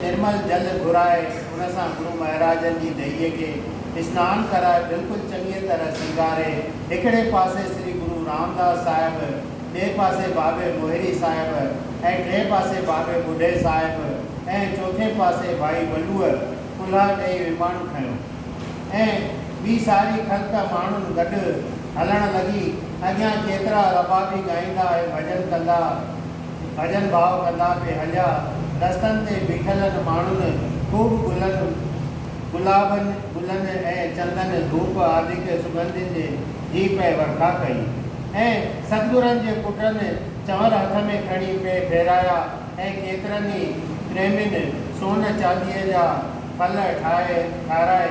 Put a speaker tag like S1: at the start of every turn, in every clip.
S1: نرمل جل گهرائي ان سان گرو مهاراجن جي ديئي کي اسنان ڪرائي بلڪل چڱيء طرح سينگاري هڪڙي پاسي سري گرو رامداس صاحب، ٻئي پاسي بابي موهري صاحب ۽ ٽئين پاسي بابي ٻڍي صاحب ۽ چوٿين پاسي ڀائي ولوء ڪلها ڏئي ويماڻو کنيو ۽ ٻي ساري خلق ماڻهن گڏ هلڻ لڳي اڳيان ڪيترا ربابي ڳائيندا ۽ ڀڄن ڪندا ڀڄن ڀاء ڪندا پئي هليا. رستن تي بيٺلن ماڻهن خوب گلن، گلابن، گلن ۽ چندن، ڌوپ آدڪ سڳنڌين جي جي پئي ورکا ڪئي ۽ ستگرن جي پٽن چنور هٿ ۾ کڻي پئي ڦيرايا ۽ ڪيترن ئي پريمين سون چانديء جا ڦل ٺاهي ٺارائي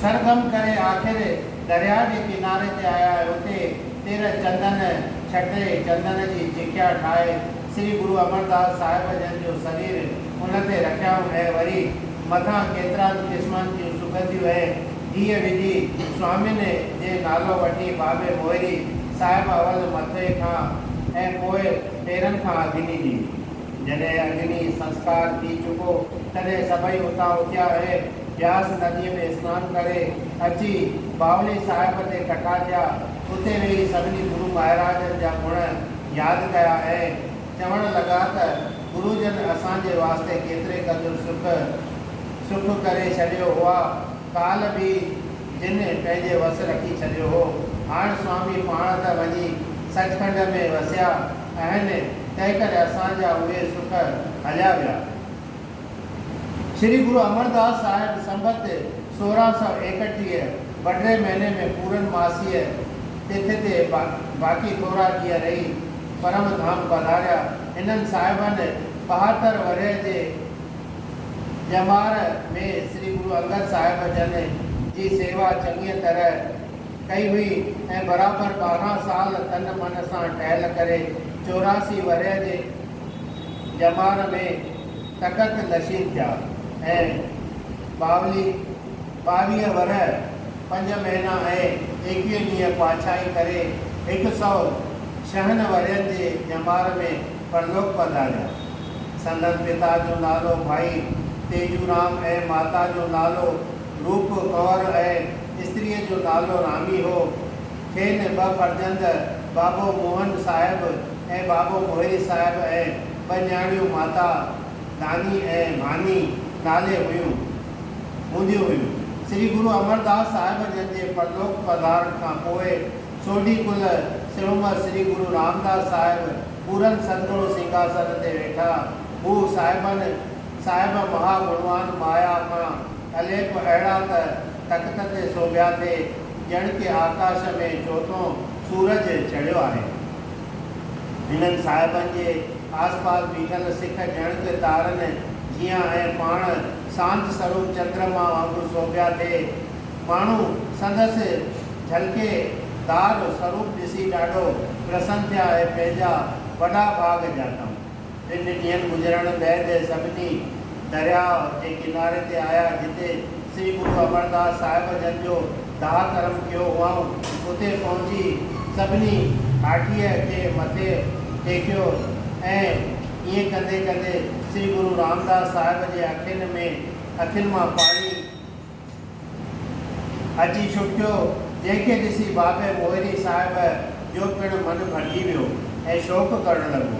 S1: سرگم ڪري آخر درياء جي ڪناري تي آيا ۽ اتي تيرهن چندن ڇٽي چندن جي چڪيا ٺاهي سري گرو امرداس صاحب جن جو سرير ان تي رکيائون ۽ وري مٿان ڪيترائن قسمن جون سڳنڌيون ۽ گيهه وجهي سوامين جي نالو وٺي بابي موهري صاحب اول مٿي کان ۽ پوء پيرن کان اگني ڏني. جڏهن اگني سنسڪار ٿي چڪو، تڏهن سڀئي اتان اٿيا ۽ بياس نديء ۾ اسنان ڪري اچي باولي صاحب تي ڪٺا ٿيا. اتي ويهي سڀني گرو مهاراجن جا گڻ ياد ڪيا ۽ چوڻ لڳا ته گرو جن اسان جي واسطي ڪيتري قدر سک سک ڪري ڇڏيو هئا. ڪالهه به جن پنهنجي وس رکي ڇڏيو هو. هاڻ سوامي پاڻ ته وڃي سچ کنڊ ۾ وسيا. اهن تنهنڪري اسان جا اهي سک هليا ويا. شري گرو امرداس صاحب سنبت سورهن سؤ ايڪٽيهه بڊري مهيني ۾ پورن ماسيء تٿ تي باقي ٿورا ڏينهن رهي پرم ڌام پڌاريا. هنن صاحبن ٻهاتر ورهيه جي ڄمار ۾ شري گرو انگد صاحب جن جي سيوا چڱيء طرح. ڪئي هئي ۽ برابر ٻارهن سال تن من سان ٽهل ڪري چوراسي ورهيه جي ڄمار ۾ تخت نشين ٿيا ۽ ٻاولي ٻاويهه ورهيه پنج مهينا ۽ ايڪويهه ڏينهن پاڇائي ڪري هڪ سئو ڇهن ورهين جي ڄمار ۾ پرلوڪ پڌاريا. سندن پتا جو نالو ڀائي تيجورام ۽ ماتا جو نالو روپ ڪور ۽ استريء جو نالو رامي هو. کين ٻه فرزند بابو موهن صاحب ۽ بابو موهري صاحب ۽ ٻه نياڻيون ماتا داني ۽ ڀاني نالي هيون هونديون هيون. سري گرو امرداس صاحب جن جي پرلوڪ پڌارڻ کان پوء سوڍي ڪل سرعمر سري گرو رامداس صاحب پورن سندوڙ سنگهاسن تي ويٺا. هو صاحبن صاحب مها گڻوان مايا کان اليڪ اهڙا ته تخت تي سوڀيا ٿئي ڄڻ ڪي آڪاش ۾ چوٿون سورج چڙهيو آهي. هنن صاحبن جي آس پاس بيٺل سک ڄڻ ته تارن جيان ۽ پاڻ سانت سروپ چندرما وانگر سوڀيا ٿئي. ماڻهو سندس جهلڪي دار سروپ ڏسي ڏاڍو پرسن ٿيا ۽ پنهنجا وڏا ڀاڳ ڄاتائون. ٽن ڏينهن گذرڻ بعد سڀني درياء جي ڪناري تي آيا، جتي سري گرو امرداس صاحب جن جو داهه ڪرم ڪيو هئائون. اتي پهچي سڀني ڪاٺيء کي مٿي ٽيڪيو ۽ ائين ڪندي ڪندي سري گرو رامداس صاحب جي اکين ۾ اکين مان پاڻي اچي ڇپيو، جنهن کي ڏسي بابي موهري صاحب جو پڻ من ڀرجي ويو ۽ شوق ڪرڻ لڳو.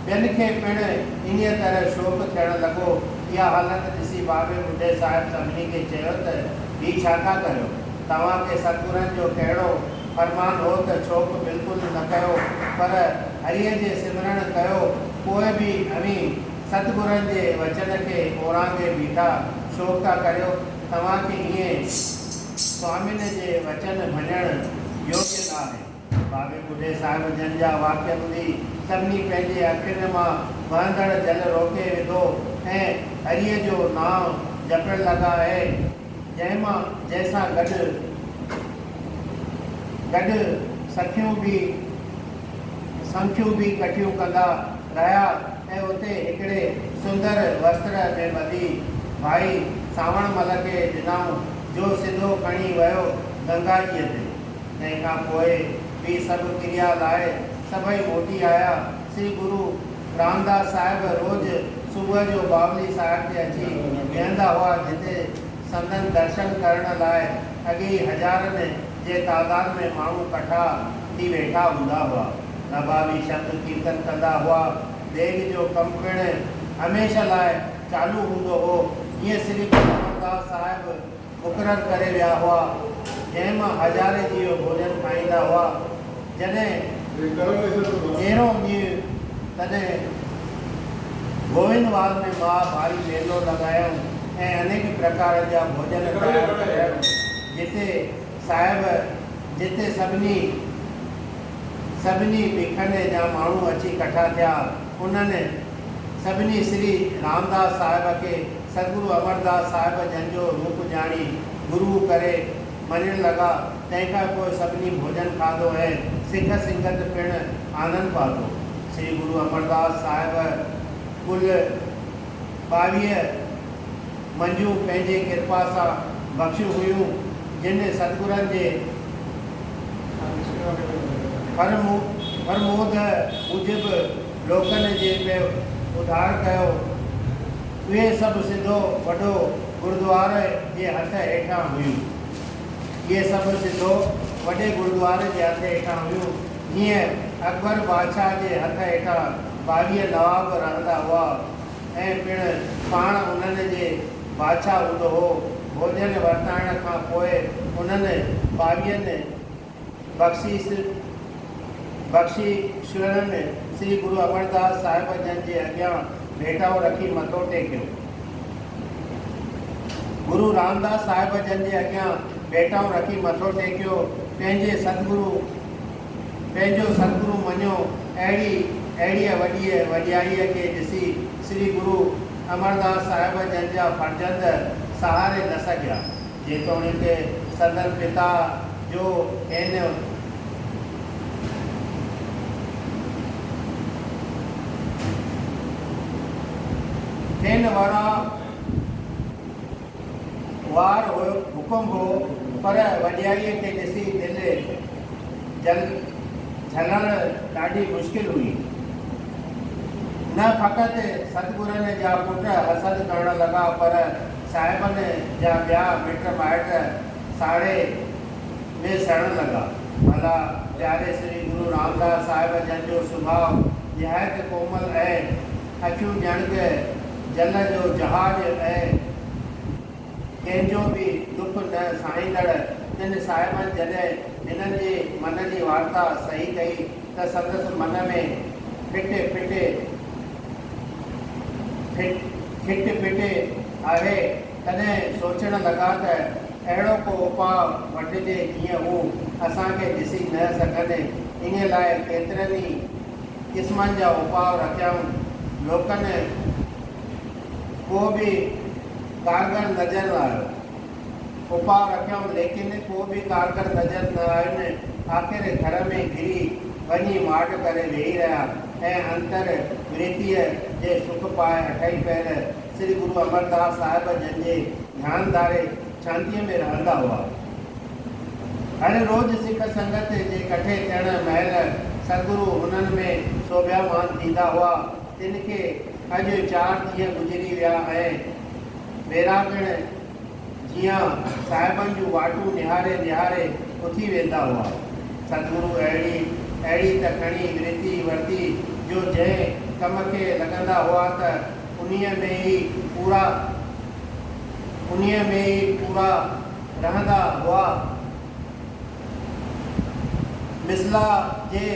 S1: ٻين کي پڻ انهيء طرح شوق ٿيڻ لڳو. اها حالت ڏسي بابي ٻڍي صاحب سڀني کي چيو ته هي ڇا ٿا ڪريو؟ توهان کي سرگرن جو ڪهڙو فرمان هو ته ڇوڪ بلڪل نه ڪيو پر هريء جي سمرڻ ڪيو، پوء به اوهين ست گرن جي وچن کي اورانگي بيٺا شوق ٿا ڪريو توهان کي ائين سوامين جي وچن ڀڃڻ يوگيا نه آهي. بابي ٻڍي صاحب جن جا واڪيا ٻڌي سڀني پنهنجي اکين مان وهندڙ جل روڪي وڌو ۽ هريء جو نانء جپڻ لڳا ۽ جنهن مان جنهن سان گڏ گڏ سکيون به سنکيون به ڪٺيون ڪندا رهيا. ۽ اتي هڪڙي سندر وستر ۾ ٻڌي ڀائي سانوڻ مل کي ڏنائون جو سڌو کڻي ويو گنگا جيء تي. تنهن کان پوء به سڀ ڪريا لاء سڀئي موٽي آيا. سري گرو رامداس صاحب روز صبح جو باولي صاحب تي اچي بيهندا هئا جتي سندن درشن ڪرڻ لاء اڳي ئي هزارن جي تعداد ۾ ماڻهو ڪٺا ٿي ويٺا هوندا هئا. نبابي شبد ڪيرتن ڪندا هئا. ديڳ جو ڪم پڻ هميشه لاء چالو هوندو هو. جيئن سري گرو امرداس صاحب مقرر ڪري ويا هئا. جنهن مان هزارين جيو ڀوڄن کائيندا هئا. جڏهن ڏيرو ڄيئي تڏهن گوئنوال ۾ مها ڀاري ميلو لڳايائون ۽ انيڪ پرڪارن جا ڀوڄن تيار ڪرايائون. جتي صاحب جتي سڀني سڀني بيکن جا ماڻهو اچي ڪٺا ٿيا انهن سڀني سري رامداس صاحب کي سدگرو امرداس صاحب جن جو روپ ڄاڻي گرو ڪري مڃڻ لڳا تنهن کان پوء سڀني ڀوڄن کاڌو ۽ سک سنگت پڻ آنند پاتو سري گرو امرداس صاحب ڪل ٻاويهه منجون پنهنجي ڪرپا سان بخشيون هيون، جن ستگرن جي فرموده موجب لوڪن جي پئي اڌار ڪيو. اهي سڀ سڌو وڏو گردوار جي هٿ هيٺان هيون. اهي سڀ سڌو وڏي گردوار جي هٿ هيٺان هيون. جيئن اڪبر بادشاهه جي هٿ هيٺان ٻاويهه نواب رهندا هئا ۽ پڻ پاڻ انهن جي بادشاهه هوندو هو. ڀوڄن ورتائڻ کان پوء انهن ٻاويهن بخشيس بخشيشڻن سري گرو امرداس صاحب جن جي اڳيان ڀيٽائو رکي مٿو ٽيڪيو. گرو رامداس صاحب جن جي اڳيان ڀيٽائون رکي مٿو ٽيڪيو، پنهنجي ستگرو پنهنجو ستگرو مڃيو، اهڙي اهڙيء وڏيء وڏيائيء کي ڏسي سري گرو امرداس صاحب جن جا فرزند سهاري نه سگهيا. جيتوڻيڪ صدر پتا جو اين. اين وارا وار حڪم هو پر وڏيائيء کي ڏسي دل جهلڻ ڏاڍي مشڪل هئي. نه فقط سدگرن جا پٽ حسد ڪرڻ لڳا پر صاحبن جا ٻيا مٽ مائٽ ساڙهي ۾ سڙڻ لڳا. ڀلا پياري سري گرو رامداس صاحب جن جو سڀاء نهايت ڪومل ۽ اکيون ڄڻ ڪه جل جو جهاز ۽ ڪنهن جو به ڏک نه ساهيندڙ تن صاحبن جڏهن هنن جي من جي وارتا سهي ڪئي ته سندس من ۾ ڦٽي ڦٽي ٺٽي پٽي آهي، تڏهن سوچڻ لڳا ته اهڙو ڪو اپاء وٺجي جيئن هو اسان کي ڏسي نه سگهن. ان لاء ڪيترن ئي قسمن جا اپاء رکيائون. لوڪن ڪو به ڪارگر نظر نه آيو. اپاء رکيم ليڪن ڪو به ڪارگر نظر نه آين آخر گهر ۾ گهري وڃي ماڊ ڪري ويهي رهيا ۽ انتر ورتيء جي سک پاء اٺئي پهر سري گرو امرداس صاحب جن جي ڌيان ڌاري شانتيء ۾ رهندا هئا هر روز سک سنگت جي ڪٺي ٿيڻ مهل سگرو هنن ۾ سوڀيامان ٿيندا هئا تن کي اڄ چار ڏينهن گذري ويا ۽ ڀيرا پڻ جيان صاحبن جون واٽون نهاري نهاري اٿي ويندا هئا. سدگرو اهڙي اهڙي ته کڻي ورتي ورتي جو جنهن ڪم کي لڳندا هئا ته انهيء ۾ ئي پورا انهيء ۾ ئي پورا رهندا هئا. مثلا جي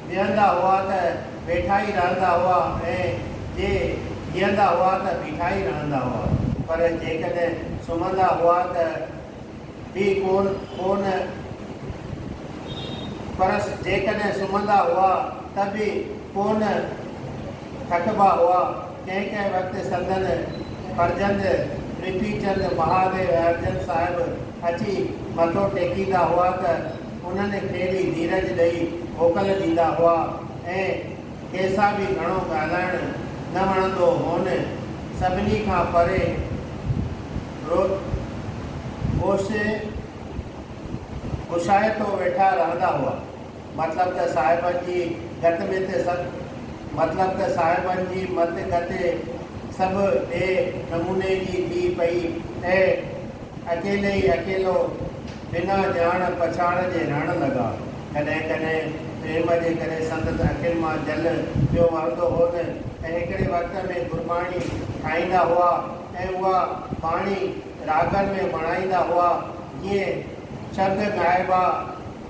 S1: ويهندا هئا ته ويٺا ئي رهندا هئا ۽ جي جيئندا هئا ته بيٺا ئي رهندا هئا. پر جيڪڏهن سمهندا هئا ته به ڪونه ڪونه پرس جيڪڏهن سمهندا هئا ته به ڪونه ٿڪبا هئا. ڪنهن ڪنهن وقت سندن فرزند پرٿي چند مهاديو اهرجن صاحب اچي مٿو ٽيڪيندا هئا ته انهن کي به ڌيرج ڏئي موڪل ڏيندا هئا ۽ کيسا به گهڻو ڳالهائڻ نه وڻندو هون. سڀني کان پري روشي اوشايتو ويٺا رهندا هئا. مطلب ته صاحبن جي گت مت سڀ مطلب ته صاحبن جي مت گت سڀ ٻئي نموني جي ٿي پئي ۽ اڪيلي ئي اڪيلو بنا ڄاڻ پڇاڻ جي رهڻ لڳا. ڪڏهن ڪڏهن پريم جي ڪري سندس اکين مان جل پيو وهندو هو نه ته هڪڙي وقت ۾ گرباڻي ٺاهيندا هئا ۽ اها باڻي راڳن ۾ وڻائيندا هئا جيئن شبد ڳائبا